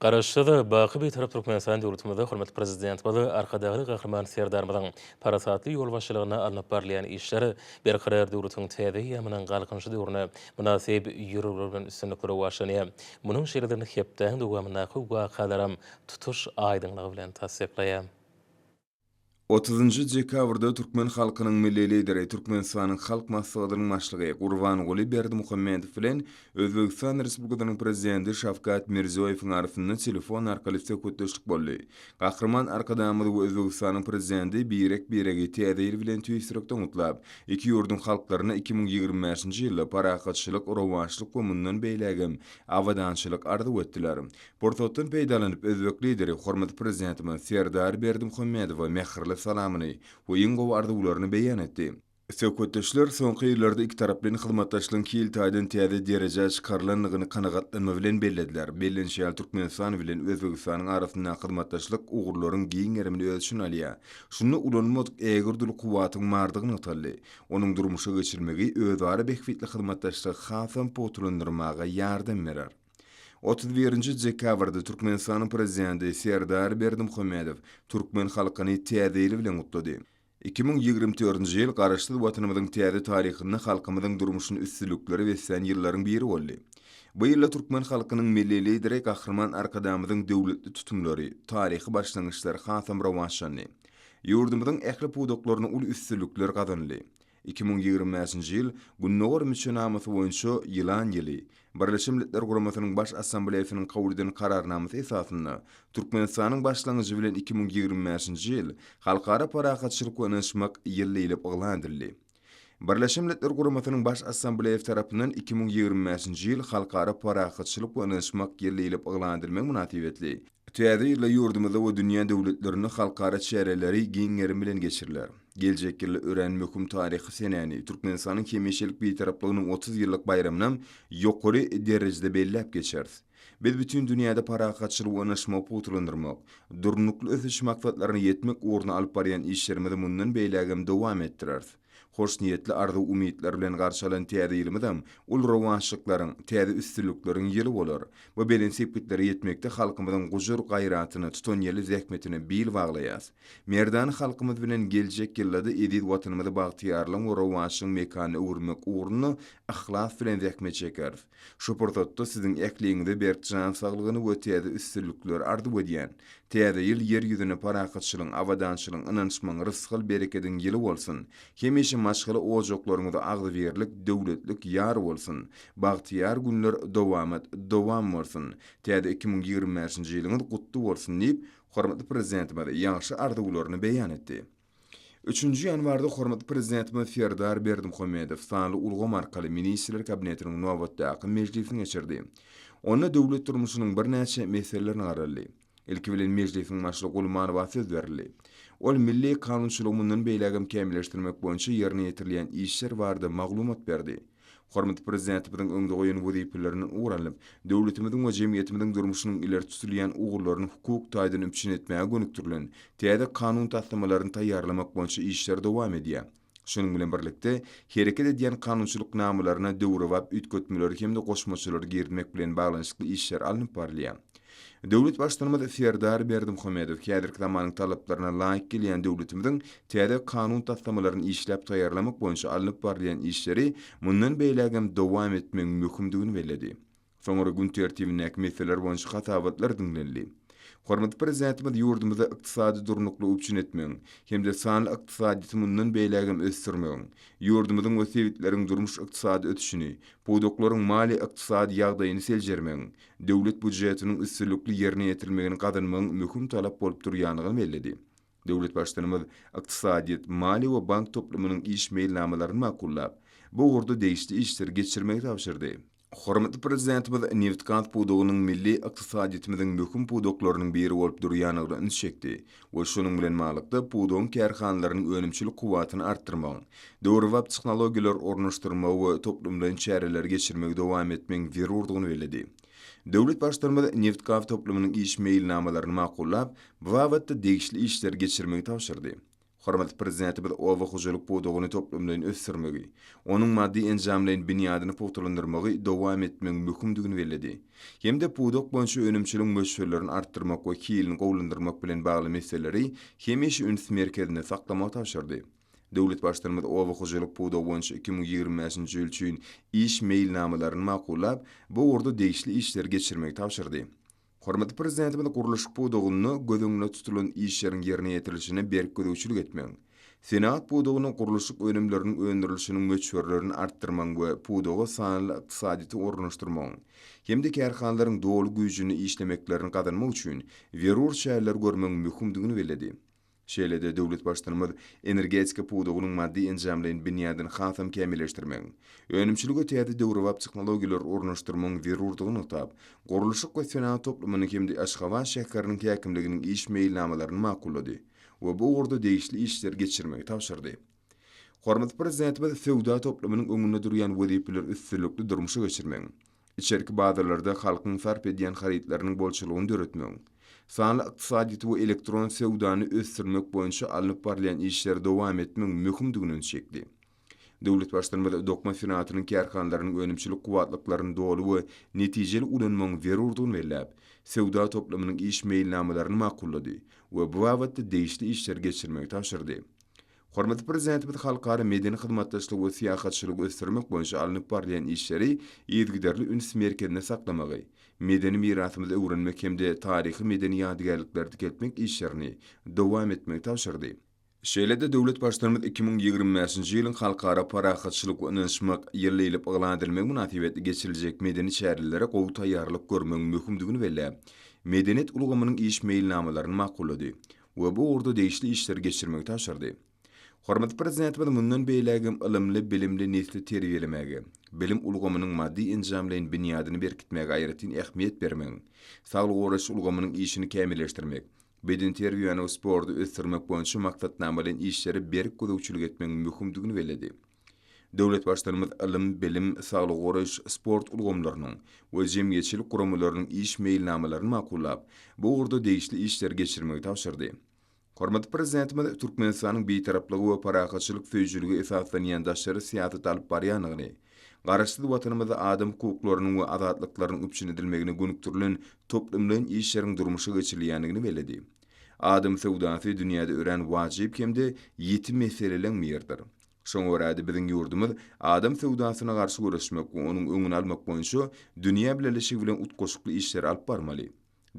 Garaşsyz, baky Bitarap Türkmenistan döwletimizde hormatly Prezidentimiz Arkadagly Gahryman Serdarymyzyň parasatly ýolbaşçylygynda alnyp barylýan işler Berkarar döwletiň täze eýýamynyň Galkynyşy döwrüne mynasyp ýörelgeler bilen üstünlikli rowaçlanýar. Munuň şertini hepdäň dowamyndaky wakalaram tutuş aýdyňlygy bilen tassyklaýar. Otuzynjy dekabrda türkmen halkynyň Milli Lideri, Türkmenistanyň Halk Maslahatynyň Başlygy Gurbanguly Berdimuhamedow bilen Özbegistan Respublikasynyň Prezidenti Şawkat Mirziýoýewiň arasynda telefon arkaly söhbetdeşlik boldy. Gahryman Arkadagymyz we Özbegistanyň Prezidenti birek-biregi Täze ýyl bilen tüýs ýürekden gutlap, iki ýurduň halklaryna iki müň ýigrimi bäşinji ýylda parahatçylyk, rowaçlyk we mundan beýlägem abadançylyk arzuw etdiler. Pursatdan peýdalanyp, özbek Lideri hormatly Prezidentimiz Serdar Berdimuhamedowa mähirli salamyny we iň gowy arzuwlaryny beýan etdi. Söhbetdeşler soňky ýyllarda ikitaraplaýyn hyzmatdaşlygyň hil taýdan täze derejä çykarylandygyny kanagatlanma bilen bellediler. Bellenişi ýaly, Türkmenistan bilen Özbegistanyň arasyndaky hyzmatdaşlyk ugurlaryň giň gerimini öz içine alýar. Şunda ulanylmadyk ägirt uly kuwwatyň bardygy nygtaldy. Onuň durmuşa geçirilmegi özara bähbitli hyzmatdaşlygy hasam pugtalandyrmaga ýardam berer. Otuz birinji dekabrda Türkmenistanyň Prezidenti Serdar Berdimuhamedow türkmen halkyny Täze ýyl bilen gutlady. Iki müň ýigrimi dördünji ýyl Garaşsyz Watanymyzyň täze taryhynda halkymyzyň durmuşyny üstünliklere beslän ýyllaryň biri boldy. Bu ýylda türkmen halkynyň Milli Lideri Gahryman Arkadagymyzyň döwletli tutumlary, taryhy başlangyçlary hasam rowaçlandy. Ýurdumyzyň ähli pudaklaryna uly üstünlikler gazanyldy. Iki müň ýigrimi bäşinji ýyl Gündogar müçenamasy boýunça Ýylan ýyly, Birleşen Milletler Guramasynyň Baş Assambleýasynyň kabul eden Kararnamasy esasynda, Türkmenistanyň başlangyjy bilen iki müň ýigrimi bäşinji ýyl Halkara parahatçylyk we ynanyşmak ýyly diýlip yglan edildi. Birleşen Milletler Guramasynyň Baş Assambleýasy tarapyndan iki müň ýigrimi bäşinji ýyl Halkara parahatçylyk we ynanyşmak ýyly diýlip yglan edilmegi mynasybetli, Täze ýylda ýurdumyzda we dünýä döwletlerinde halkara çäreleri giň gerim bilen geçiriler. Geljek ýylda örän möhüm taryhy senäni, Türkmenistanyň hemişelik Bitaraplygynyň otuz ýyllyk baýramyny ýokary derejede belläp geçeris. Biz bütin dünýäde parahatçylygy we ynaşmagy pugtalandyrmak, Durnukly ösüş maksatlaryna ýetmek ugrunda alyp barýan işlerimizi mundan beýlägem dowam etdireris. Hoşniýetli arzuw-umytlar bilen garşy alan täze ýylymyzam uly rowaçlyklaryň, täze üstünlikleriň ýyly bolar. Bu belent sepgitlere ýetmekde halkymyzyň gujur-gaýratyna, tutanýerli zähmetine bil baglaýas. Merdana halkymyz bilen geljek ýylda-da eziz Watanymyzy bagtyýarlygyň we rowaçlygyň mekanyna öwürmek ugrunda yhlas bilen zähmet çekeris. Şu pursatda siziň ähliňize berk jan saglygyny we täze üstünlikleri arzuw edýän. Täze ýyl ýer ýüzüne parahatçylygyň, abadançylygyň, ynançmagyň, rysgal-berekediň ýyly bolsun! Hemişe maşgala ojaklaryňyza agzybirlik, döwletlik ýar bolsun! Bagtyýar günler dowamat dowam bolsun! Täze iki müň ýigrimi bäşinji ýylyňyz gutly bolsun! diýip, hormatly Prezidentimiz ýagşy arzuwlaryny beýan etdi. Üçünji ýanwarda hormatly Prezidentimiz Serdar Berdimuhamedow sanly ulgam arkaly Ministrler Kabinetiniň nobatdaky mejlisini geçirdi. Onda döwlet durmuşynyň birnäçe meselelerini garaldy. Ilki bilen mejlisiň başlygy Gulmanowa söz berildi. Ol milli kanunçylygy mundan beýlägem kämilleşdirmek boýunça ýerine ýetirilýän işler barada maglumat berdi. Hormatly Prezidentimiziň öňde goýan wezipelerinden ugur alnyp, döwletimiziň we jemgyýetimiziň durmuşynyň ileri tutulýan ugurlaryny hukuk taýdan üpjün etmäge gönükdirilen täze kanun taslamalaryny taýýarlamak boýunça işler dowam edýär. Şunuň bilen birlikde, hereket edýän kanunçylyk namalaryna döwrebap üýtgetmeleri hem-de goşmaçalary girizmek bilen baglanyşykly işler alnyp barylýar. Döwlet Baştutanymyz Serdar Berdimuhamedow häzirki zamanyň talaplaryna laýyk gelýän döwletimiziň täze kanun taslamalaryny işläp taýýarlamak boýunça alnyp barylýan işleri mundan beýlägem dowam etmegiň möhümdigini belledi. Soňra gün tertibindäki meseleler boýunça hasabatlar diňlenildi. Hormatly Prezidentimiz ýurdumyzda ykdysady durnuklygy üpjün etmegiň hem-de sanly ykdysadyýeti mundan beýlägem ösdürmegiň, ýurdumyzyň we sebitleriň durmuş-ykdysady ösüşini, pudaklaryň maliýe-ykdysady ýagdaýyny seljermegiň döwlet býujetiniň üstünlikli ýerine ýetirilmegini gazanmagyň möhüm talap bolup durýandygyny belledi. Döwlet Baştutanymyz ykdysadyýet, maliýe we bank toplumynyň iş meýilnamalaryny makullap, bu ugurda degişli işleri geçirmegi tabşyrdy. Hormatly Prezidentimiz nebitgaz pudagynyň milli ykdysadyýetimiziň möhüm pudaklarynyň biri bolup durýandygyna üns çekdi we şonuň bilen balykda pudagyň kärhanalarynyň önümçilik kuwwatyny artdyrmagyň, döwrebap tehnologiýalary ornaşdyrmagy we toplumlaýyn çäreleri geçirmegi dowam etmegiň zerurdygyny belledi. Döwlet Baştutanymyz nebit-gaz toplumynyň iş meýilnamalaryny makullap, bu babatda degişli işleri geçirmegi tabşyrdy. Hormatly Prezidentimiz oba hojalyk pudagyny toplumlaýyn ösdürmegi, onuň maddy-enjamlaýyn binýadyny pugtalandyrmagy dowam etmegiň möhümdigini belledi. hem-de pudak boýunça önümçiligiň möçberlerini artdyrmak we hilini gowulandyrmak bilen bagly meseleleri hemişe üns merkezinde saklamagy tabşyrdy. Döwlet Baştutanymyz oba hojalyk pudagy boýunça iki müň ýigrimi bäşinji ýyl üçin iş meýilnamalaryny makullap, bu ugurda degişli işleri geçirmegi tabşyrdy. Hormatly Prezidentimiz gurluşyk pudagynda göz öňünde tutulan işleriň ýerine ýetirilişine berk gözegçilik etmegiň, Senagat pudagyna gurluşyk önümleriniň öndürilişiniň möçberlerini artdyrmagyň we pudaga sanly ykdysadyýeti ornaşdyrmagyň hem-de kärhanalaryň doly güýjünde işlemeklerini gazanmak üçin zerur çäreleri görmegiň möhümdigini belledi. Şeýle-de döwlet Baştutanymyz energetika pudagynyň maddy-enjamlaýyn binýadyny hasam kämilleşdirmegiň, önümçilige täze döwrebap tehnologiýalary ornaşdyrmagyň zerurdygyny nygtap, gurluşyk we senagat toplumynyň hem-de Aşgabat şäheriniň häkimliginiň iş meýilnamalaryny makullady. we bu ugurda degişli işleri geçirmegi tabşyrdy. Hormatly Prezidentimiz söwda toplumynyň öňünde durýan wezipeleri üstünlikli durmuşa geçirmegiň, içerki bazarlarda halkyň sarp edýän harytlarynyň bolçulygyny döretmegiň, sanly ykdysadyýeti we elektron söwdany ösdürmek boýunça alnyp barylýan işleri dowam etmegiň möhümdigini üns çekdi. Döwlet Baştutanymyz dokma senagatynyň kärhanalarynyň önümçilik kuwwatlyklaryny doly we netijeli ulanmagyň zerurdygyny belläp, söwda toplumynyň iş meýilnamalaryny makullady we bu babatda degişli işleri geçirmegi tabşyrdy. Hormatly Prezidentimiz halkara medeni hyzmatdaşlygy we syýahatçylygy ösdürmek boýunça alnyp barylýan işleri yzygiderli üns merkezinde saklamagy, medeni mirasymyzy öwrenmek hem-de taryhy-medeni ýadygärlikleri dikeltmek işlerini dowam etmegi tabşyrdy. Şeýle-de döwlet Baştutanymyz iki müň ýigrimi bäşinji ýylyň Halkara parahatçylyk we ynanyşmak ýyly diýlip yglan edilmegi mynasybetli geçiriljek medeni çärelere gowy taýýarlyk görmegiň möhümdigini belläp, medeniýet ulgamynyň iş meýilnamalaryny makullady we bu ugurda degişli işleri geçirmegi tabşyrdy. Hormatly Prezidentimiz mundan beýläk hem ylymly, bilimli nesli terbiýelemäge, bilim ulgamynyň maddy-enjamlaýyn binýadyny berkitmäge aýratyn ähmiýet bermegiň, saglygy goraýyş ulgamynyň işini kämilleşdirmek, bedenterbiýäni we sporty ösdürmek boýunça maksatnamalaýyn işlere berk gözegçilik etmegiň möhümdigini belledi. Döwlet Baştutanymyz ylym, bilim, saglygy goraýyş, sport ulgamlarynyň we jemgyýetçilik guramalarynyň iş meýilnamalaryny makullap, bu ugurda degişli işleri geçirmegi tabşyrdy. Hormatly Prezidentimiz Türkmenistanyň bitaraplyga we parahatçylyk söýüjiligi esaslanýan daşary syýasaty alyp barýandygyny, Garaşsyz Watanymyzda adam hukuklarynyň we azatlyklarynyň üpjün edilmegine gönükdirilen toplumlaýyn işleriň durmuşa geçirilýändigini belledi. Adam söwdasy dünýäde örän wajyp hem-de ýiti meseleleň biridir. Şoňa görä-de, biziň ýurdumyz adam söwdasyna garşy göreşmek we onuň öňüni almak boýunça dünýä bileleşigi bilen utgaşykly işleri alyp barmaly.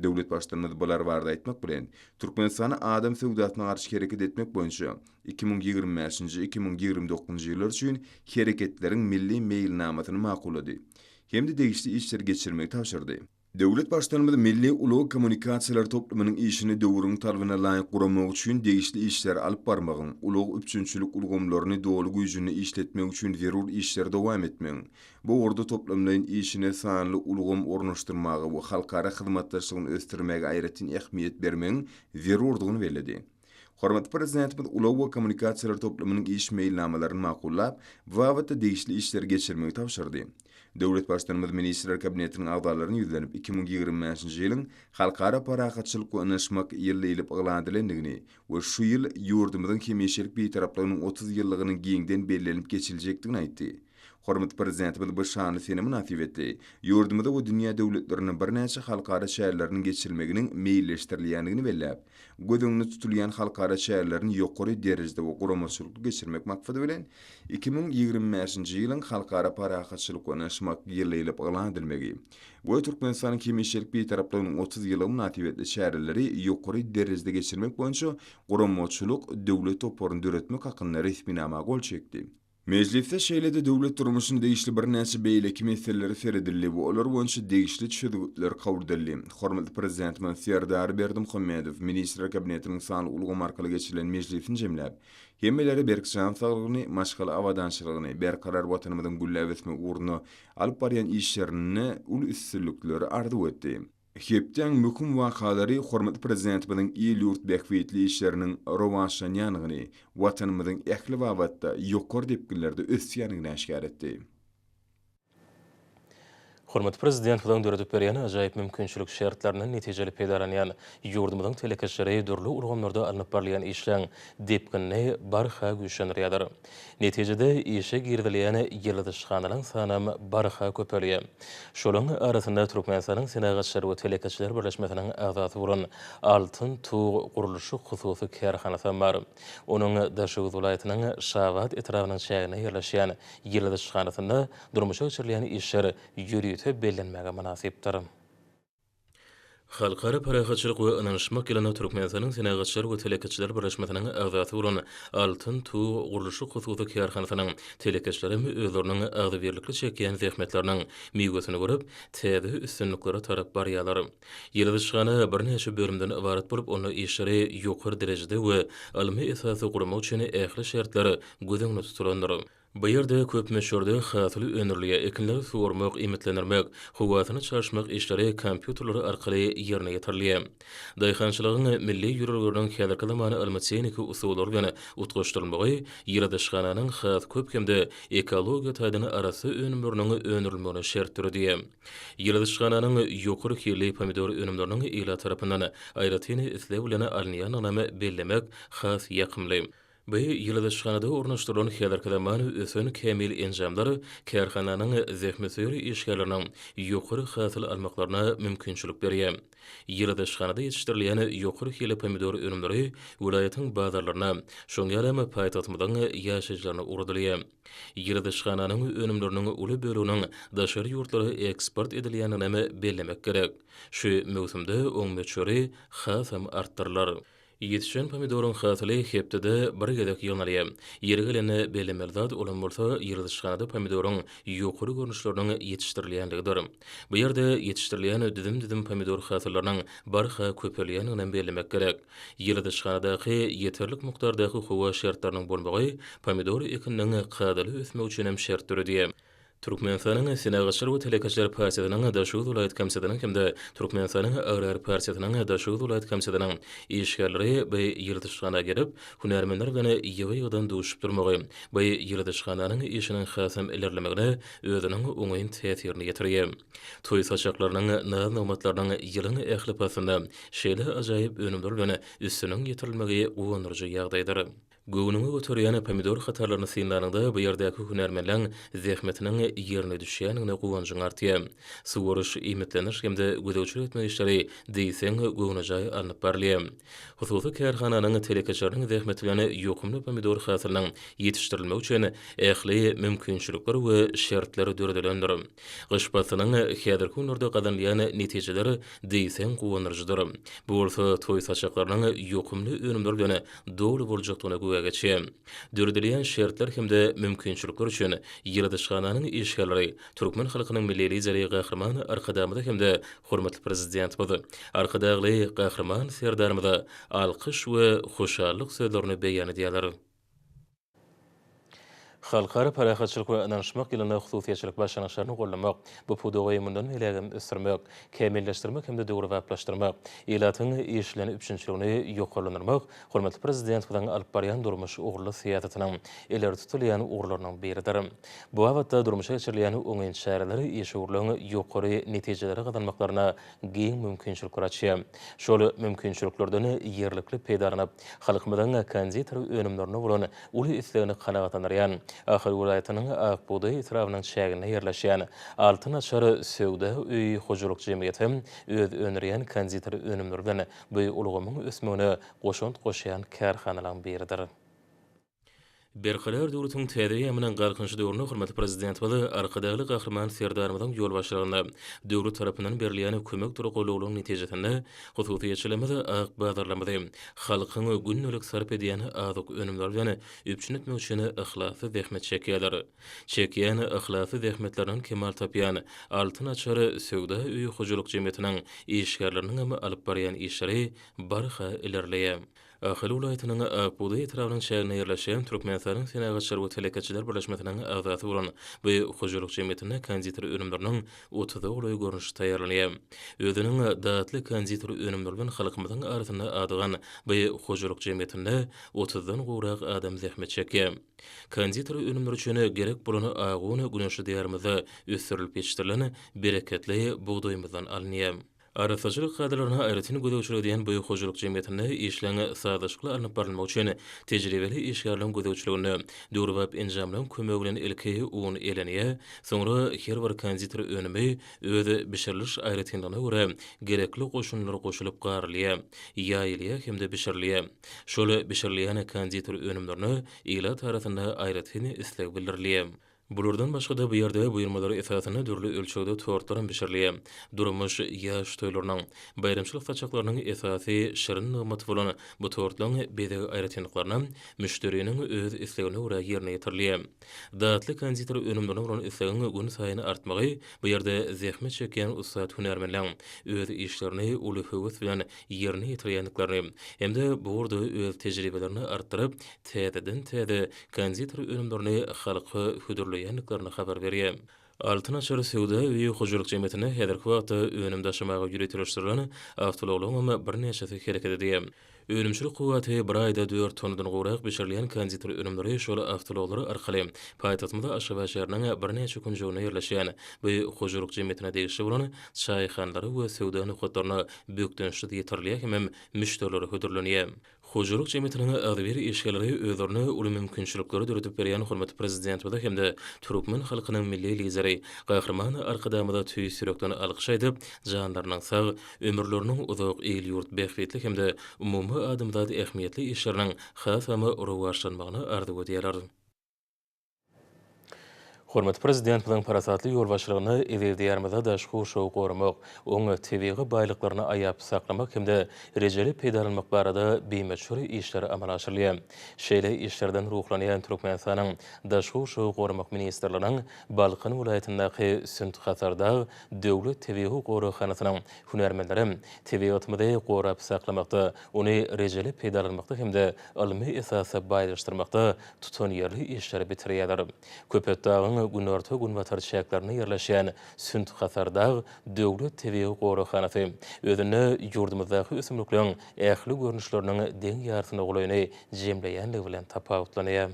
Döwlet Baştutanymyz bular barada aýtmak bilen, Türkmenistany adam söwdasyna garşy hereket etmek boýunça iki müň ýigrimi bäşinji, iki müň ýigrimi dokuzynjy ýyllar üçin Hereketleriň milli meýilnamasyny makullady hem-de degişli işleri geçirmegi tabşyrdy. Döwlet Baştutanymyz milli ulag kommunikasiýalary toplumynyň işini döwrüň talabyna laýyk guramak üçin degişli işleri alyp barmagyň, ulag üpjünçilik ulgamlaryny doly güýjünde işletmek üçin zerur işleri dowam etmegiň, Bu ugurda toplumlaýyn işine sanly ulgam ornaşdyrmaga we halkara hyzmatdaşlygyny ösdürmäge aýratyn ähmiýet bermegiň zerurdygyny belledi. Hormatly Prezidentimiz ulag we kommunikasiýalar toplumynyň iş meýilnamalaryny makullap, bu babatda degişli işleri geçirmegi tabşyrdy. Döwlet Baştutanymyz Ministrler Kabinetiniň agzalaryna ýüzlenip, iki müň ýigrimi bäşinji ýylyň Halkara parahatçylyk we ynanyşmak ýyly diýlip yglan edilendigini we şu ýyl ýurdumyzyň hemişelik Bitaraplygynyň otuz ýyllygynyň giňden bellenilip geçiljekdigini aýtdy. Hormatly Prezidentimiz bu şanly sene mynasybetli ýurdumyzda we dünýä döwletlerinde birnäçe halkara çäreleriniň geçirilmeginiň meýilleşdirilýändigini belläp, göz öňünde tutulýan halkara çärelerini ýokary derejede we guramaçylykly geçirmek maksady bilen, iki müň ýigrimi bäşinji ýylyň Halkara parahatçylyk we ynanyşmak ýylydiýlip yglan edilmegi we Türkmenistanyň hemişelik Bitaraplygynyň otuz ýyllygy mynasybetli çäreleri ýokary derejede geçirmek boýunça guramaçylyk döwlet toparyny döretmek hakynda resminama gol çekdi. Mejlisde şeýle-de döwlet durmuşyna degişli birnäçe beýleki meselelere seredildi we olar boýunça degişli çözgütler kabul edildi. Hormatly Prezidentimiz Serdar Berdimuhamedow Ministrler Kabinetiniň sanly ulgamy arkaly geçirilen mejlisini jemläp, hemmelere berk jan saglygyny, maşgala abadançylygyny, berkarar Watanymyzyň gülläp ösmegi ugrunda alyp barýan işlerinde uly üstünlikleri arzuw etdi. Hepdäň möhüm wakalary hormatly Prezidentimiziň il-ýurt bähbitli işleriniň rowaçlanýandygyny, Watanymyzyň ähli babatda ýokary depginlerde ösýändigini äşgär etdi. Hormatly Prezidentimiziň döredip berýän ajaýyp mümkinçilik şertlerinden netijeli peýdalanýan ýurdumyzyň telekeçileri dürli ulgamlarda alnyp barylýan işleň depginini barha güýçlendirýärler. Netijede, işe girizilýän ýyldyzşyhanalaryň sanam barha köpelýär. Şolaryň arasynda Türkmenistanyň Senagatçylar we telekeçiler birleşmesiniň agzasy bolan Altyn tug gurluşyk hususy kärhanasy hem bar. Onuň Daşoguz welaýatynyň Şabat etrabynyň çäginde ýerleşýän ýyldyzşyhanasynda durmuşa geçirilýän işler ýörite bellenmäge mynasypdyr. Halkara parahatçylyk we ynanyşmak ýylynda Türkmenistanyň Senagatçylar we telekeçiler birleşmesiniň agzasy bolan Altyn tug gurluşyk hususy kärhanasynyň telekeçileri hem özleriniň agzybirlikli çekýän zähmetleriniň miwesini görüp, täze üstünliklere tarap barýarlar. Ýyladyşhana birnäçe bölümden ybarat bolup, onda işleri ýokary derejede we ylmy esasda gurmak üçin ähli şertler göz öňünde tutulandyr. Bu ýerde köp möçberde hasyly öndürilýär, ekinleri suwarmak, iýmitlendirmek, howasyny çalyşmak işleri kompýuterler arkaly ýerine ýetirilýär. Daýhançylygyň milli ýörelgeleriniň häzirki zaman ylmy-tehniki usullary bilen utgaşdyrylmagy ýyladyşhananyň has köp hem-de ekologiýa taýdan arassa önümleriniň öndürilmegine şert döredýär. Ýyladyşhananyň ýokary hilli pomidor önümleriniň ilat tarapyndan aýratyn isleg bilen alynýandygynam bellemek has ýakymly. Bu ýyladyşhanada ornaşdyrylan häzirki zaman ösen kämil enjamlar kärhananyň zähmetsöýer işgärleriniň ýokary hasyl almaklaryna mümkinçilik berýär. Ýyladyşhanada ýetişdirilýän ýokary hili pomidor önümleri welaýatyň bazarlaryna, şoň ýalam paýtagtymyzyň ýaşaýjylaryna ugradylýar. Ýyladyşhananyň önümleriniň uly böleginiň daşary ýurtlara eksport edilýändiginem bellemek gerek. Şu möwsümde oň möçberi hasam artdyrylar. Ýetişen pomidoryň hasyly hepdede bir gezek ýygnalýar. Ýeri gelende bellemeli zat olam bolsa ýyladyşhanada pomidoryň ýokary görnüşleriniň ýetişdirilýänligidir. Bu ýerde ýetişdirilýän düzüm-düzüm pomidor hasyllarynyň barha köpelýändiginem bellemek gerek. Ýyladyşhanadaky ýeterlik mukdardaky howa şertleriniň bolmagy pomidor ekininiň kadaly ösmegi üçinem şert döredýär. Türkmenistanyň Senagatçylar we telekeçiler partiýasynyň Daşoguz welaýat komsýetiniň hem-de Türkmenistanyň Agrar partiýasynyň Daşoguz welaýat komsýetiniň işgärleri bu ýyladyşhana gelip, hünärmenler bilen ýygy-ýygydan duşup durmagy bu ýyladyşhananyň işiniň hasam ilerlemegine özüniň oňyn täsirini ýetirýär. Toý saçaklarynyň, naz-nygmatlarynyň ýylyň ähli paslynda şeýle ajaýyp önümler bilen üstüniň ýetirilmegi guwandyryjy ýagdaýdyr. Göwnüňi göterýän pomidor hatarlaryny synlanyňda bu ýerdäki hünärmenleň zähmetiniň ýerine düşýändigine guwanjyň artýar. Suwaryş, iýmitleniş hem-de gözegçilik etmek işleri diýseň göwnejaý alnyp barylýar. Hususy kärhananyň telekeçileriniň zähmeti bilen ýokumly pomidor hasylynyň ýetişdirilmegi üçin ähli mümkinçilikler we şertler döredilendir. Gyş paslynyň häzirki günlerde gazanylýan netijeler diýseň guwandyryjydyr. Bu bolsa toý saçaklarynyň ýokumly önümler bilen doly boljakdygyna güwä geçýär. Döredilýän şertler hem-de mümkinçilikler üçin ýyladyşhananyň işgärleri türkmen halkynyň Milli Lideri Gahryman Arkadagymyza hem-de hormatly Prezidentimiz Arkadagly Gahryman Serdarymyza alkyş we hoşallyk sözlerini beýan edýärler. Halkara parahatçylyk we ynanyşmak ýylynda hususyýetçilik başlangyçlaryny goldamak, bu pudagy mundan beýlägem ösdürmek, kämilleşdirmek hem-de döwrebaplaşdyrmak, ilatyň işlenip üpjünçiligini ýokarlandyrmak hormatly Prezidentimiziň alyp barýan durmuş ugurly syýasatynyň ileri tutulýan ugurlarynyň biridir. Bu babatda durmuşa geçirilýän oňyn çäreler işewürligiň ýokary netijeleri gazanmaklaryna giň mümkinçilikler açýar. Şol mümkinçiliklerden ýerlikli peýdalanyp, halkymyzyň konditer önümlerine bolan uly islegini kanagatlandyrýan Ahal welaýatynyň Ak bugdaý etrabynyň çäginde ýerleşýän Altyn açar söwda öýi hojalyk jemgyýeti hem öz öndürýän konditer önümleri bilen bu ulgamyň ösmegine goşant goşýan kärhanalaryň biridir. Berkarar döwletiň täze eýýamynyň Galkynyşy döwründe hormatly Prezidentimiz Arkadagly Gahryman Serdarymyzyň ýolbaşçylygynda döwlet tarapyndan berilýän kömekdir goldawlaryň netijesinde hususyýetçiligimiz ak bazarlarymyzy halkyň gündelik sarp edýän azyk önümleri bilen üpjün etmek üçin yhlasly zähmet çekýärler. Çekýän yhlasly zähmetlerinden kemal tapýan Altyn açar söwda öýi hojalyk jemgyýetiniň işgärleriniňem alyp barýan işleri barha ilerleýär. Ahal welaýatynyň Akbugdaý etrabynyň çäginde ýerleşýän Türkmenistanyň Senagatçylar we telekeçiler birleşmesiniň agzasy bolan bu hojalyk jemgyýetinde konditer önümleriniň otuza golaý görnüşi taýýarlanýar. Özüniň datly konditer önümleri bilen halkymyzyň arasynda adygan bu hojalyk jemgyýetinde otuzdan gowrak adam zähmet çekýär. Konditer önümleri üçin gerek bolan agy un güneşli Diýarymyzda ösdürilip ýetişdirilen bereketli bugdaýymyzdan alynýar. Arassaçylyk kadalaryna aýratyn gözegçilik edýän bu hojalyk jemgyýetinde işleň sazlaşykly alnyp barylmagy üçin tejribeli işgärleň gözegçiliginde döwrebap enjamlaryň kömegi bilen ilki un eleniýär, soňra her bir konditer önümi öz bişiriliş aýratynlygyna görä gerekli goşundylar goşulyp garylýar, ýaýylýar hem-de bişirilýär. Şol bişirilýän konditer önümlerine ilat arasynda aýratyn isleg bildirilýär. Bulardan başga-da bu ýerde buýurmalar esasynda dürli ölçegde tortlaram bişirilýär. Durmuş, ýaş toýlarynyň, baýramçylyk saçaklarynyň esasy şirin nygmaty bolan bu tortlaň bezeg aýratynlyklaryna müşderiniň öz islegine görä ýerine ýetirilýär. Datly konditer önümlerine bolan islegiň günsaýyn artmagy bu ýerde zähmet çekýän ussat hünärmenleň öz işlerini uly höwes bilen ýerine ýetirýändiklerini hem-de bu ugurda öz tejribelerini artdyryp, täzeden-täze konditor önümlerini halka hödürleýändiklerini habar berýär. Altyn açar söwda öýi hojalyk jemgyýetine häzirki wagtda önüm daşamaga ýöriteleşdirilen awtoulaglaryňam birnäçesi hereket edýär. Önümçilik kuwwaty bir aýda dört tonnadan gowrak bişirilýän konditor önümleri şol awtoulaglar arkaly paýtagtymyz Aşgabat şäheriniň birnäçe künjeginde ýerleşýän bu hojalyk jemgyýetine degişli bolan çaýhanlara we söwda nokatlaryna bökdençsiz ýetirilýär hemem müşderilere hödürlenýär. Hojalyk jemgyýetiniň agzybir işgärleri özlerine uly mümkinçilikleri döredip berýän hormatly Prezidentimize hem-de türkmen halkynyň Milli Lideri Gahryman Arkadagymyza tüýs ýürekden alkyş aýdyp, janlarynyň sag, ömürleriniň uzak, il-ýurt bähbitli hem-de umumadamzat ähmiýetli işleriniň hasama rowaçlanmagyny arzuw edýärler. Hormatly Prezidentimiziň parasatly ýolbaşçylygyna eziz Diýarymyzda daşky gurşawy goramak, oňa tebigy baýlyklaryny aýap saklamak hem-de rejeli peýdalanmak barada bimöçber işler amala aşyrylýar. Şeýle işlerden ruhlanýan Türkmenistanyň Daşky gurşawy goramak ministrliginiň Balkan welaýatyndaky Sünt-Hasardag döwlet tebigy goraghanasynyň hünärmenleri tebigatymyzy gorap saklamakda, ony rejeli peýdalanmakda hem-de ylmy esasda baýlaşdyrmakda tutanýerli işleri bitirýärler. Köpetdagyň günorta-günbatar çäklerinde ýerleşýän Sünt-Hasardag döwlet tebigy goraghanasy özünde ýurdumyzdaky ösümlikleriň ähli görnüşleriniň deň ýarysyna golaýyny jemleýänligi bilen tapawutlanýar.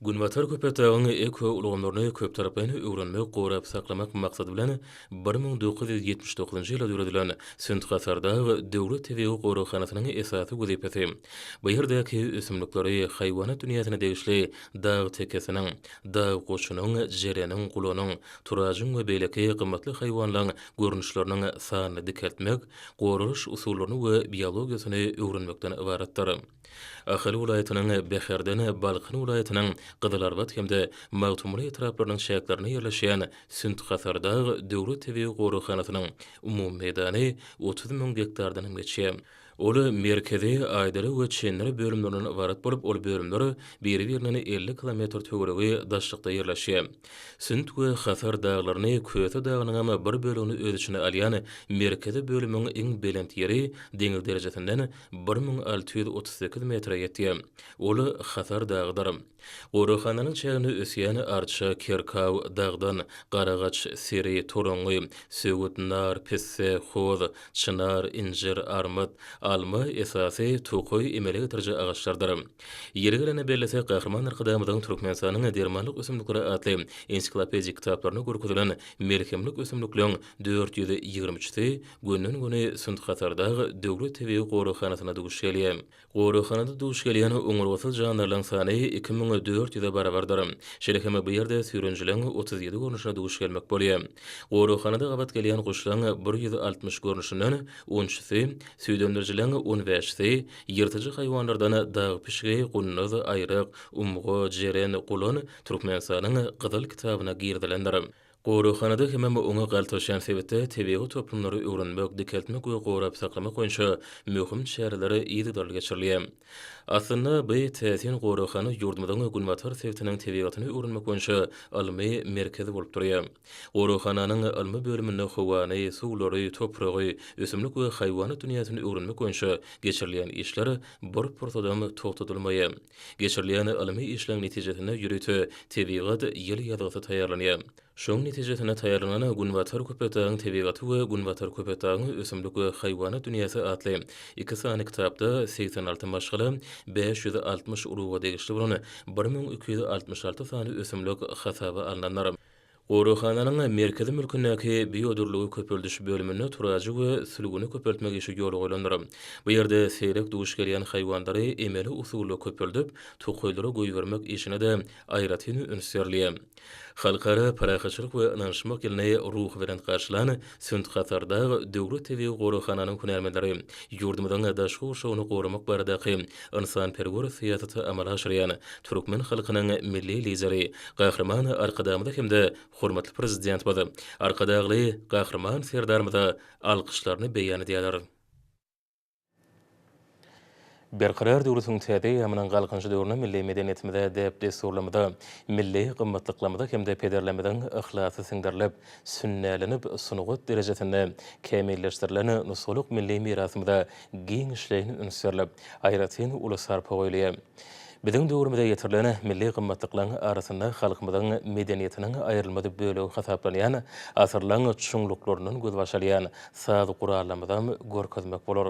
Günbatar Köpetdagyň ekoulgamlaryny köptaraplaýyn öwrenmek, gorap saklamak maksady bilen bir müň dokuz ýüz ýetmiş dokuzynjy ýylda döredilen Sünt-Hasardag döwlet tebigy goraghanasynyň esasy wezipesi, Bu ýerdäki ösümlikleri haýwanat dünýäsine degişli dag tekesiniň, dag goçunyň, jereniň, gulanyň, turajyň we beýleki gymmatly haýwanlaň görnüşleriniň sanyny dikeltmek, goralyş usullaryny we biologiýasyny öwrenmekden ybaratdyr. Ahal welaýatynyň Bäherden, Balkan welaýatynyň Gyzylarbat hem-de Magtymguly etraplarynyň çäklerinde ýerleşýän Sünt-Hasardag döwlet tebigy goraghanasynyň umumy meýdany otuz müň gektardanam geçýär. Ol merkezi, aýdyry we çendiri bölümlerinden ybarat bolup, ol bölümler biri-birinden elli kilometr töweregi daşlykda ýerleşýär. Sünt we Hasar daglaryny, Köse dagynyňam bir bölegini öz içine alýan merkezi bölümiň iň belent ýeri deňiz derejesinden bir müň alty ýüz otuz sekiz metre ýetýär. Ol Hasar dagydyr. Goraghananyň çäginde ösýän arça, kerkaw, dagdan, garagaç, seri, toraňňy, söwüt, nar, pisse, hoz, çynar, injir, armyt, alma esasy tokaý emele getiriji agaçlardyr. Ýeri gelende bellesek, Gahryman Arkadagymyzyň Türkmenistanyň dermanlyk ösümlikleri atly ensiklopedik kitaplarynda görkezilen melhemlik ösümlikleň dört ýüz ýigrimi üçüsi gönden-göni Sünt-Hatardag döwlet tebigy goraghanasynda duş gelýär. Goraghanada duş gelýän oňurgasyz jandarlaryň sany iki müň dört ýüze barabardyr. Şeýle hem bu ýerde süýrenijileriň otuz ýedi görnüşine duş gelmek bolýar. Goraghanada gabat gelýän guşlaryň bir ýüz altmyş görnüşinden on üçüsi, süýdemdirijileriň on bäşisi, ýyrtyjy haýwanlardan dag pişigi, gunduz, aýryk, umga, jeren, gulan Türkmenistanyň Gyzyl kitabyna girizilendir. Goraghanada hemem oňa galtaşýan sebitde tebigy toplumlary öwrenmek, dikeltmek we gorap saklamak boýunça möhüm çäreler yzygiderli geçirilýär. Aslynda, bi täsin goraghana ýurdumyzyň günbatar sebitiniň tebigatyny öwrenmek boýunça ylmy merkez bolup durýar. Goraghananyň ylmy bölüminde howany, suwlary, topragy, ösümlik we haýwanat dünýäsini öwrenmek boýunça geçirilýän işler bir pursadam togtadylmaýar. Geçirilýän ylmy işleň netijesinde ýörite tebigat ýyl ýazgysy taýýarlanýar. Şoň netijesinde taýýarlanan Günbatar Köpetdagyň tebigaty we Günbatar Köpetdagyň ösümlik we haýwanat dünýäsi atly iki sany kitapda segsen alty maşgala, bäş ýüz altmyş uruga degişli bolan bir müň iki ýüz altmyş alty sany ösümlik hasaba alnandyr. Goraghananyň merkezi mülkündäki biodürlügi köpeldiş bölüminde turaji we sülgüni köpeltmek işi ýola goýlandyr. Bu ýerde seýrek duş gelýän haýwanlary emeli usulda köpeldip, tokaýlara goýbermek işine-de aýratyn üns berilýär. Halkara parahatçylyk we ynanyşmak ýylyny ruhubelent garşylan Sünt Hatardag döwlet tebigy goraghananyň hünärmenleri ýurdumyzyň daşky gurşawyny goramak baradaky ynsanperwer syýasaty amala aşyrýan türkmen halkynyň Milli Lideri Gahryman Arkadagymyza hem-de hormatly Prezidentimiz, Arkadagly Gahryman Serdarymyza alkyşlaryny beýan edýärler. Berkarar döwletiň täze eýýamynyň Galkynyşy döwründe milli medeniýetimize, däp-dessurlarymyza, milli gymmatlyklarymyza hem-de pederlerimiziň yhlasy siňdirilip, sünnälenip, sungat derejesinde kämilleşdirilen nusgalyk milli mirasymyza giňişleýin üns berlip, aýratyn uly sarpa goýulýar. Biziň döwrümize ýetirilen milli gymmatlyklaryň arasynda halkymyzyň medeniýetiniň aýrylmaz bölegi hasaplanýan asyrlaň çuňluklaryndan gözbaş alýan saz gurallarymyzam görkezmek bolar.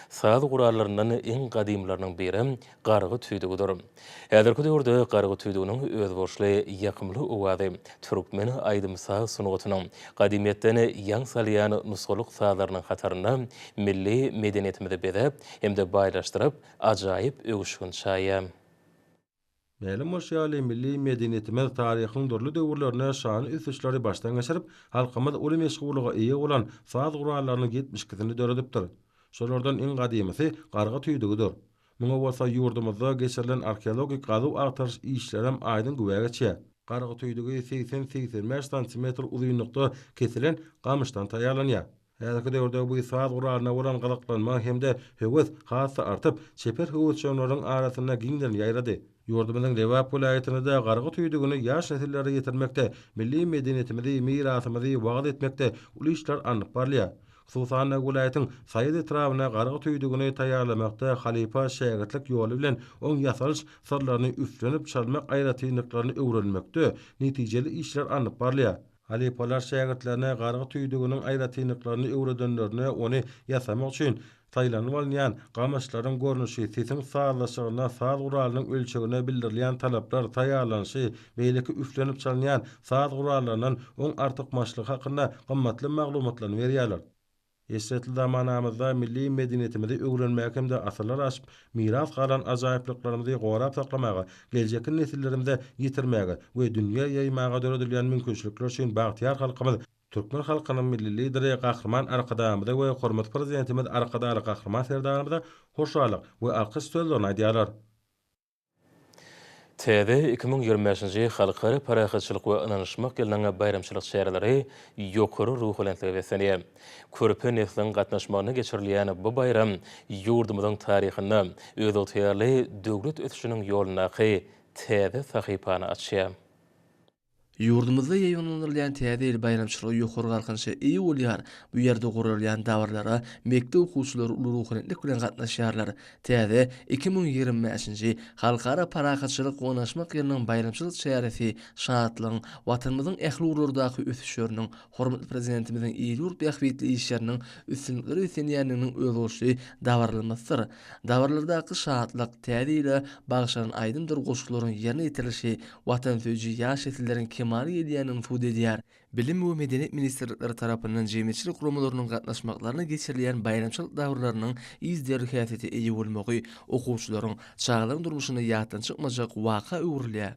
Saz gurallaryndan iň gadymylarynyň biri gargy tüýdügidir. Häzirki döwürde gargy tüýdüginiň özboluşly ýakymly owazy türkmen aýdym-saz sungatynyň gadymyýetden ýaň salýan nusgalyk sazlarynyň hatarynda milli medeniýetimizi bezäp hem-de baýlaşdyryp, Ajaýyp öwüşgin çaýa. Mälim bolşy ýaly, milli medeniýetimiz taryhyň dürli döwürlerinde şanly ösüşleri başdan geçirip, halkymyz uly meşhurlyga eýe bolan saz gurallarynyň ýetmiş ikisini döredipdir. Şolardan iň gadymysy Garga tüýdügidir. Muňa bolsa ýurdumyzda geçirilen arheologik gazuw-agtaryş işlerem aýdyň güwä geçýär. Garga tüýdügi segsen-segsen bäş santimetr uzynlykda kesilen gamyşdan taýýarlanýar. Häzirki döwürde bu saz guralyna bolan gyzyklanma hem-de höwes has-da artyp, çeper höwesjeňleriň arasynda giňden ýaýrady. Ýurdumyzyň Lebap welaýatynda-da gargy tüýdügini ýaş nesillere ýetirmekde, milli medeniýetimizi, mirasymyzy wagyz etmekde uly işler alnyp barylýar. Hususan-da, welaýatyň Saýat etrabynda gargy tüýdügini taýýarlamakda halypa-şägirtlik ýoly bilen oň ýasalyş syrlaryny üflenip çalmak aýratynlyklaryny öwrenmekde netijeli işler alnyp barylýar. Halypalar şägirtlerine gargy tüýdüginiň aýratynlyklaryny öwredenlerinde ony ýasamak üçin saýlanyp alynýan gamyşlaryň görnüşi, sesiň sazlaşygynda saz guralynyň ölçegine bildirilýän talaplar, taýýarlanyşy, beýleki üflenip çalynýan saz gurallaryndan oň artykmaçlygy hakynda gymmatly maglumatlaryny berýärler. Eşretli zamanamyzda milli medeniýetimizi öwrenmäge hem-de asyrlar aşyp miras galan ajaýyplyklarymyzy gorap saklamaga, geljekki nesillerimize ýetirmäge we dünýä ýaýmaga döredilýän mümkinçilikler üçin bagtyýar halkymyz, türkmen halkynyň Milli Lideri Gahryman Arkadagymyza we hormatly Prezidentimiz Arkadagly Gahryman Serdarymyza hoşallyk we alkyş sözlerini aýdýarlar. Täze iki müň ýigrimi bäşinji Halkara parahatçylyk we ynanyşmak ýylynyň baýramçylyk çäreleri ýokary ruhubelentlige beslenýär. Körpe nesliň gatnaşmagynda geçirilýän bu baýram ýurdumyzyň taryhynda özygtyýarly döwlet ösüşiniň ýolundaky täze sahypany açýar. Ýurdumyzda ýaýbaňlandyrylýan Täze ýyl baýramçylygy ýokary galkynyşa eýe bolýar, bu ýerde guralýan dabaralara mekdep okuwçylary uly ruhubelentlik bilen gatnaşýarlar. Täze iki müň ýigrimi bäşinji Halkara parahatçylyk we ynaşmak ýylynyň baýramçylyk çäresi şatlygyň, Watanymyzyň ähli ugurlardaky ösüşleriniň, Hormatly Prezidentimiziň il-ýurt bähbitli işleriniň üstünliklere üýtgenýändiginiň özboluşly dabaralanmasydyr. Dabaralardaky şatlyk, täze ýyla bagyşlanan aýdymdyr goşgularyň ýerine ýetirilişi watansöýüji ýaş nesilleriň kemala gelýändigini subut edýär. Bilim we medeniýet ministrlikleri tarapyndan jemgyýetçilik guramalarynyň gatnaşmaklarynda geçirilýän baýramçylyk dabararynyň yzderli häsiýete eýe bolmagy okuwçylaryň, çagalaryň durmuşynda ýatdan çykmajak waka öwrülýär.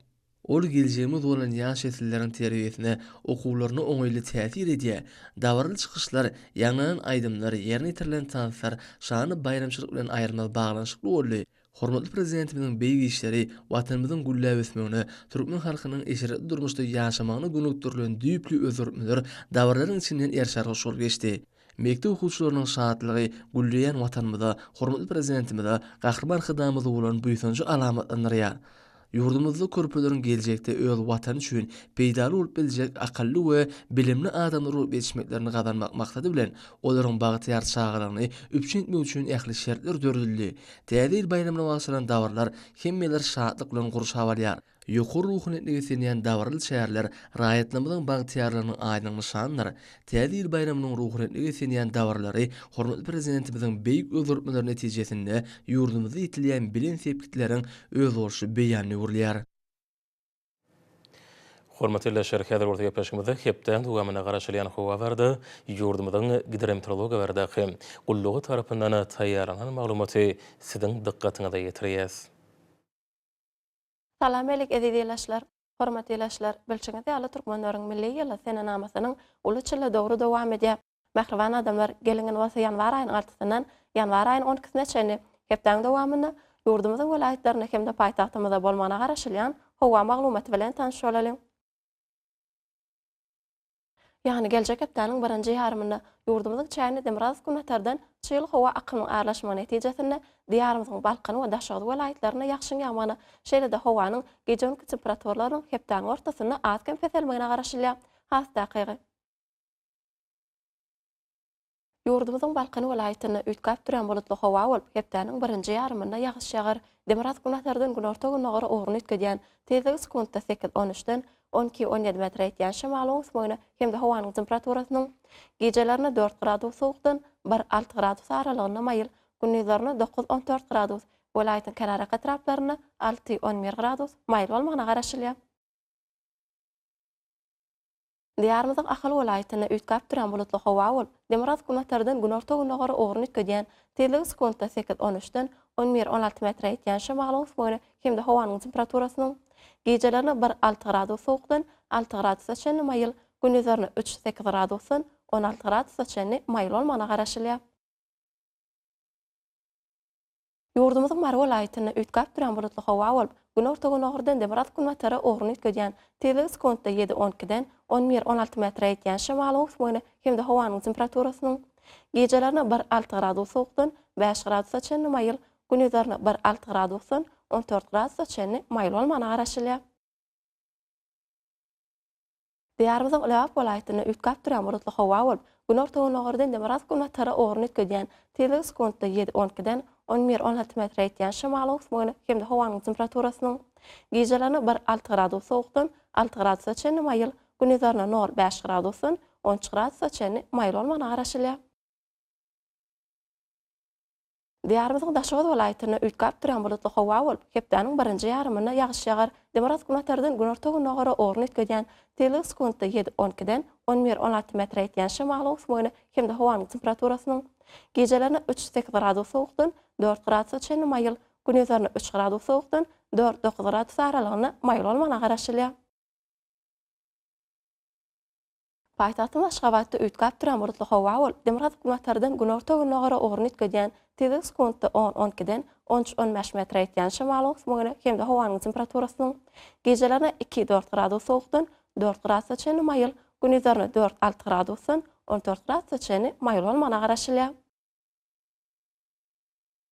Ol geljegimiz bolan ýaş nesilleriň terbiýesine, okuwlaryna oňaýly täsir edýär. Dabaraly çykyşlar, ýaňlanan aýdymlar, ýerine ýetirilen tanslar şanly baýramçylyk bilen aýrylmaz baglanyşykly boldy. Hormatly Prezidentimiziň beýik işleri Watanymyzyň gülläp ösmegine, türkmen halkynyň eşretli durmuşda ýaşamagyna gönükdirilen düýpli özgertmeler dabaralaryň içinden ýerşarga şol geçdi. Mekdep okuwçylarynyň şatlygy gülleýän Watanymyza, hormatly Prezidentimize Gahryman Hydamyza bolan buýsanjy alamatlandyrýar. Ýurdumyzda körpeleriň geljekde öz Watany üçin peýdaly bolup biljek akylly we bilimli adamlar bolup ýetişmeklerini gazanmak maksady bilen, olaryň bagtyýar çagalygyny üpjün etmek üçin ähli şertler döredildi. Täze ýyl baýramyna bagyşlanan dabaralar hemmeleri şatlyk bilen gurşap alýar. Ýokary ruhanyýetli beslenýän dabaraly çäreler raýatlarymyzyň bagtyýarlygynyň aýdyň nyşanydyr. Täze ýyl baýramynyň ruhanyýetli beslenýän dabaralary hormatly Prezidentimiziň beýik özgertmeleri netijesinde ýurdumyzda ýetilýän belent sepgitleriň özboluşly beýanyna öwrülýär. Hormatly ildeşler, häzir bolsa gepleşigimizde hepdäniň dowamynda garaşylýan howa barada, ýurdumyzyň Gidrometeorologiýa baradaky gullugy tarapyndan taýýarlanan maglumaty siziň dykgatyňyza ýetirýäs. Salam Melik eziz ilaçlar Hormat ilaçlar bilşiňiz ýaly türkmenleriň milli ýyly senenamasynyň uly çyly dowry dowam edýär Mähriban adamlar geliň in bolsa ýanwar aýynyň altysyndan ýanwar aýynyň on ikisine çenli hepdäň dowamynda ýurdumyzyň welaýatlarynda hemde paýtagtymyzda bolmagyna garaşylýan howa maglumaty bilen tanyş bolalyň. Ýagny geljek hepdäniň birinji ýarymynda ýurdumyzyň çägine demirgazyk-günbatardan çygly howa akymynyň arlaşmagy netijesinde Diýarymyzyň Balkan we Daşoguz welaýatlarynda ýagşyň ýagmagyna, şeýle-de howanyň gije-gündki temperaturalarynyň hepdäniň ortasynda az-kem peselmegine garaşylýar. Has takygy. Ýurdumyzyň Balkan welaýatynda üýtgäp durýan bulutly howa bolup, hepdäniň birinji ýarymynda ýagyş ýagar. Demirgazyk-günbatardan günorta-gündogara ugruny üýtgedýän, tizligi sekuntda sekiz, on üçden, on iki, on ýedi metre ýetýän şemal oňus boýuna hem-de howanyň temperaturasynyň gijelerine dört gradus sowukdan bir, alty gradus aralygynda maýyl, gündizlerine dokuz, on dört gradus, welaýatyň kenarýaka etraplarynda alty, on bir gradus maýyl bolmagyna garaşylýar. Diýarymyzyň Ahal welaýatynda üýtgäp durýan bulutly howa bolup, demirgazyk günbatardan günorta-gündogara ugruny üýtgedýän, tizligi sekuntda sekiz, on üçden on bir, on alty metre ýetýän şemalyň ösmegine hem-de howanyň temperaturasynyň gijelerine bir, alty gradus sowukdan alty gradusa çenli maýyl, gündizlerine üç, sekiz gradusdan on alty gradusa çenli maýyl bolmagyna garaşylýar. Ýurdumyzyň Mary welaýatynda üýtgäp durýan bulutly howa bolup, günorta-gündogardan-da biraz günbatara ugruny üýtgedýän, tizligi sekuntda ýedi-on ikiden on bir-on alty metre ýetýän şemalyň öwüsmegine hem-de howanyň temperaturasynyň gijelerine bir alty gradus sowukdan bäş gradusa çenli maýyl, gündizlerine bir alty gradusdan on dört gradusa çenli maýyl bolmagyna garaşylýar. Diýarymyzyň Lebap welaýatynda üýtgäp durýan bulutly howa bolup, günorta-gündogardan demirgazyk-günbatara ugruny üýtgedýän, tizligi sekuntda ýedi-on ikiden on bir-on alty metre ýetýän şemalyň ösmegine hem-de howanyň temperaturasynyň gijelerine bir alty gradus sowukdan alty gradusa çenli maýyl, gündizlerine nol bäş gradusdan on üç gradusa çenli maýyl bolmagyna garaşylýar. Diýarymyzyň Daşoguz welaýatynda üýtgäp durýan bulutly howa bolup, hepdäniň birinji ýarymynda ýagyş ýagar, demirgazyk günortadan günorta-güngogara ugry üýtgedýän, syzlygy sekuntda ýedi, on ikiden on bir, on alty metre ýetýän şemalyň öwsmegine hem-de howanyň temperaturasynyň gijelerine üç, sekiz gradus sowukdan dört gradusa çenli maýyl, gündizlerine üç gradus sowukdan dört, dokuz gradus aralygynda maýyl bolmagyna garaşylýar. Paýtagtymyz Aşgabatda üýtgäp duran bulutly howa bolup, demirgazyk-günbatardan günorta-gündogara ugruny üýtgedýän tizligi sekuntda on-on ikiden on üç-on bäş metre ýetýän şemalyň ösmegine hem-de howanyň temperaturasynyň gijelerine iki-dört gradus sowukdan dört gradusa çenli maýyl, gündizlerine dört-alty gradusdan on dört gradusa çenli maýyl bolmagyna garaşylýar.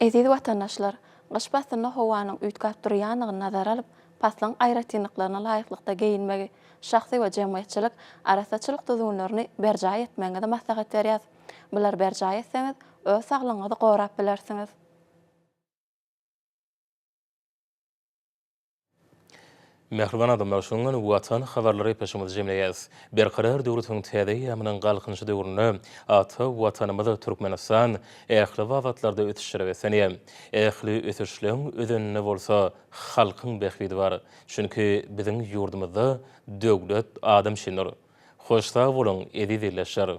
Eziz watandaşlar! Gyş paslynda howanyň üýtgäp durýandygyny nazara alyp, paslyň aýratynlyklaryna laýyklykda geýinmegi, şahsy we jemgyýetçilik arassaçylyk düzgünlerini berjaý etmegiňizi maslahat berýäs. Bulary berjaý etseňiz, öz saglygyňyzy gorap bilersiňiz. Mähriban adamlar, şonuň bilen Watan habarlary epeşigimizi jemleýäs. Berkarar döwletimiziň täze eýýamynyň Galkynyşy döwründe ata Watanymyz Türkmenistan ähli babatlarda ösüşlere beslenýär. Ähli ösüşleň özeninde bolsa halkyň bähbidi bar. Çünki biziň ýurdumyzda döwlet adam üçindir. Hoş sag boluň, eziz ildeşler!